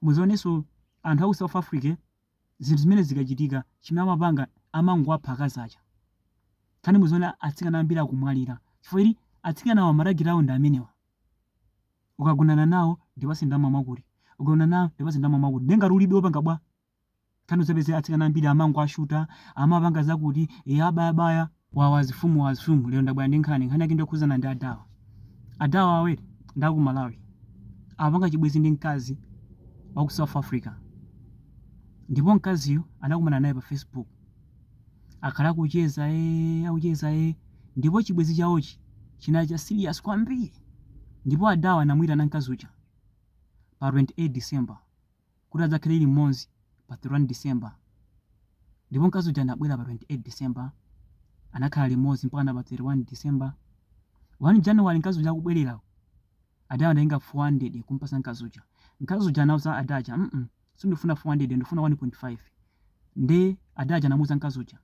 Muzioneso anthu aku south Africa zinthu zimene zikachitika chimene amapanga amangowapha akazi aja nkhani yake muzaona atsikana ambiri akumwalira chifukwa chili atsikanawa matageti awo ndi amenewa ukagonana nawo ndipase ndalama mwakuti ukagonana nawo ndipase ndalama mwakuti ndiye ngati ulibe opanga bwa Nkhani uzapeze atsikana ambiri amangowashuta, amapanga zakuti, eya abaya baya. Wawa azifumu wa zoom lero ndabwera ndi nkhani nkhani yake ndiyokhuzana ndi adawa adawa awere ndi aku Malawi apanga chibwezi ndi mkazi wa ku South Africa ndipo mkaziyo anakumana naye pa Facebook akhala akucheza ee akucheza ee ndipo chibwezi chawochi chinali cha serious kwambiri ndipo adawa anamuitana mkazi uja pa 28 December kuti adzakhale limodzi pa 31 December ndipo mkazi uja anabwera pa 28 December anakhala limodzi mpaka na pa 31 December 1 January mkazi uja akubwerera adawa anatenga 400 kumpasa mkazi uja mkazi uja anauza ada aja mm -mm, sindifuna 400 ndifuna 1.5 nde ada aja anamuuza mkazi uja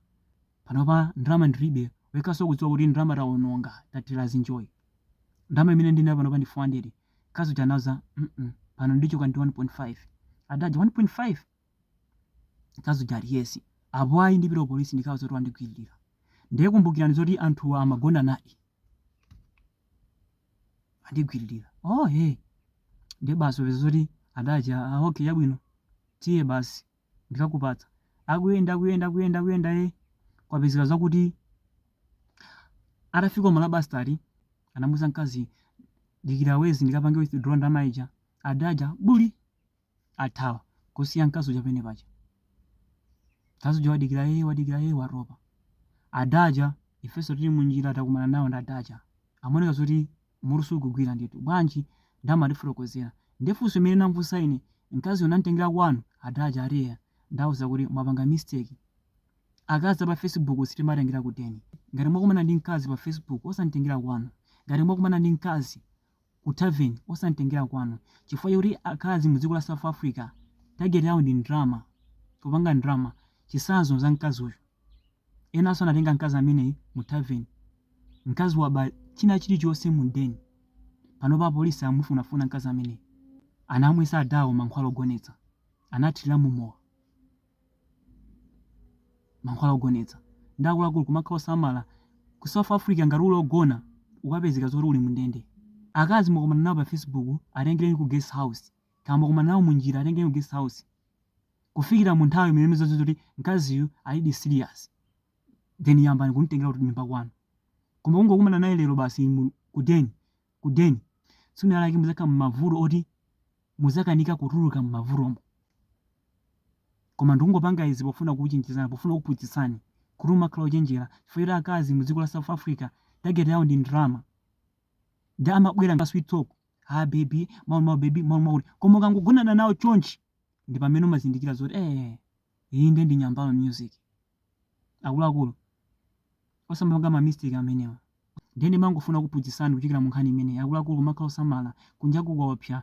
panopa ndalama ndilibe wekaso kudziwa kuti ndalama taononga tatira zinjoyi ndalama imene ndinayo panopa ndi 400 Mkazi uja anauza, mm pano ndichoka ndi 1.5. Adaja, 1.5? Mkazi uja ali, yes. Apo ayi ndipita polisi ndikawauza kuti wandigwiririra. Ndiye kumbukirani zoti anthuwa amagonanadi. Andigwiririra. Oh, hey. Ndiye basi upeza zoti adaja, ah, okay, yabwino. Tiye basi. ndikakupatsa. Akuyenda, akuyenda, akuyenda, akuyenda ee kwapezeka zakuti atafika Marabastad anamuuza mkazi dikira wezi ndikapange withdraw ndalama ija ada aja buli athawa kusiya mkazi uja pene paja. Mkazi uja wadikira ee wadikira ee watopa. Ada aja ifenso tili munjira takumana nawo ndi ada aja. Amaoneka zoti Mutu sukugwira ndithu. Bwanji? Nde amatifotokozera. Nde funso limene namfunsa ine, mkaziyo namtengera kwanu? Ada aja ati eya. Ndauza kuti, mwapanga mistake. Akazi a pa Facebook sitimatengera ku deni. Ngati mwakumana ndi mkazi pa Facebook, osamtengera kwanu. Ngati mwakumana ndi mkazi ku tavern, osamtengera kwanu. Chifukwa choti akazi mu dziko la South Africa, target yawo ndi ndalama, kupanga ndalama. Chitsanzo cha mkazi uyu. Enanso anatenga mkazi ameneyi mu tavern. Mkazi waba china chilichonse mu den. Panopa apolisi akumufunafuna mkazi ameneyi. Anamwisa adawo mankhwala ogonetsa. Anathira mumowa. Mankhwala ogonetsa. Nde akuluakulu kumakhala osamala. Ku South Africa ngati uli ogona ukapezeka zoti uli mundende. Akazi mwakumana nawo pa facebook atengereni ku guest house. Kaya mwakumana nawo munjira atengereni ku guest house. kufikira munthawi imene muzadziwe zoti mkaziyu alidi serious then yambani kumtengera kunyumba kwanu koma kungokumana naye lero basi mu- kudeni kudeni tsiku lake muzakhala m'mavuto oti muzakanika kutuluka m'mavutomo koma ndikungopanga izi pofuna kuchenjezani pofuna kuphunzitsani kuti umakhala ochenjera chifukwa choti akazi mu dziko la south africa target yawo ndi ndalama ndi amabwera ndi sweet talk ha baby mau mau baby mau mau koma ukangogonana nawo chonchi ndi pamene umazindikira zoti ee iyi nde ndi nyambala music akuluakulu osamapanga ma mistake amenewa ndiye ndimangofuna kuphunzitsani kuchokera mu nkhani imeneyi akuluakulu kumakhala osamala kunja kukuopsa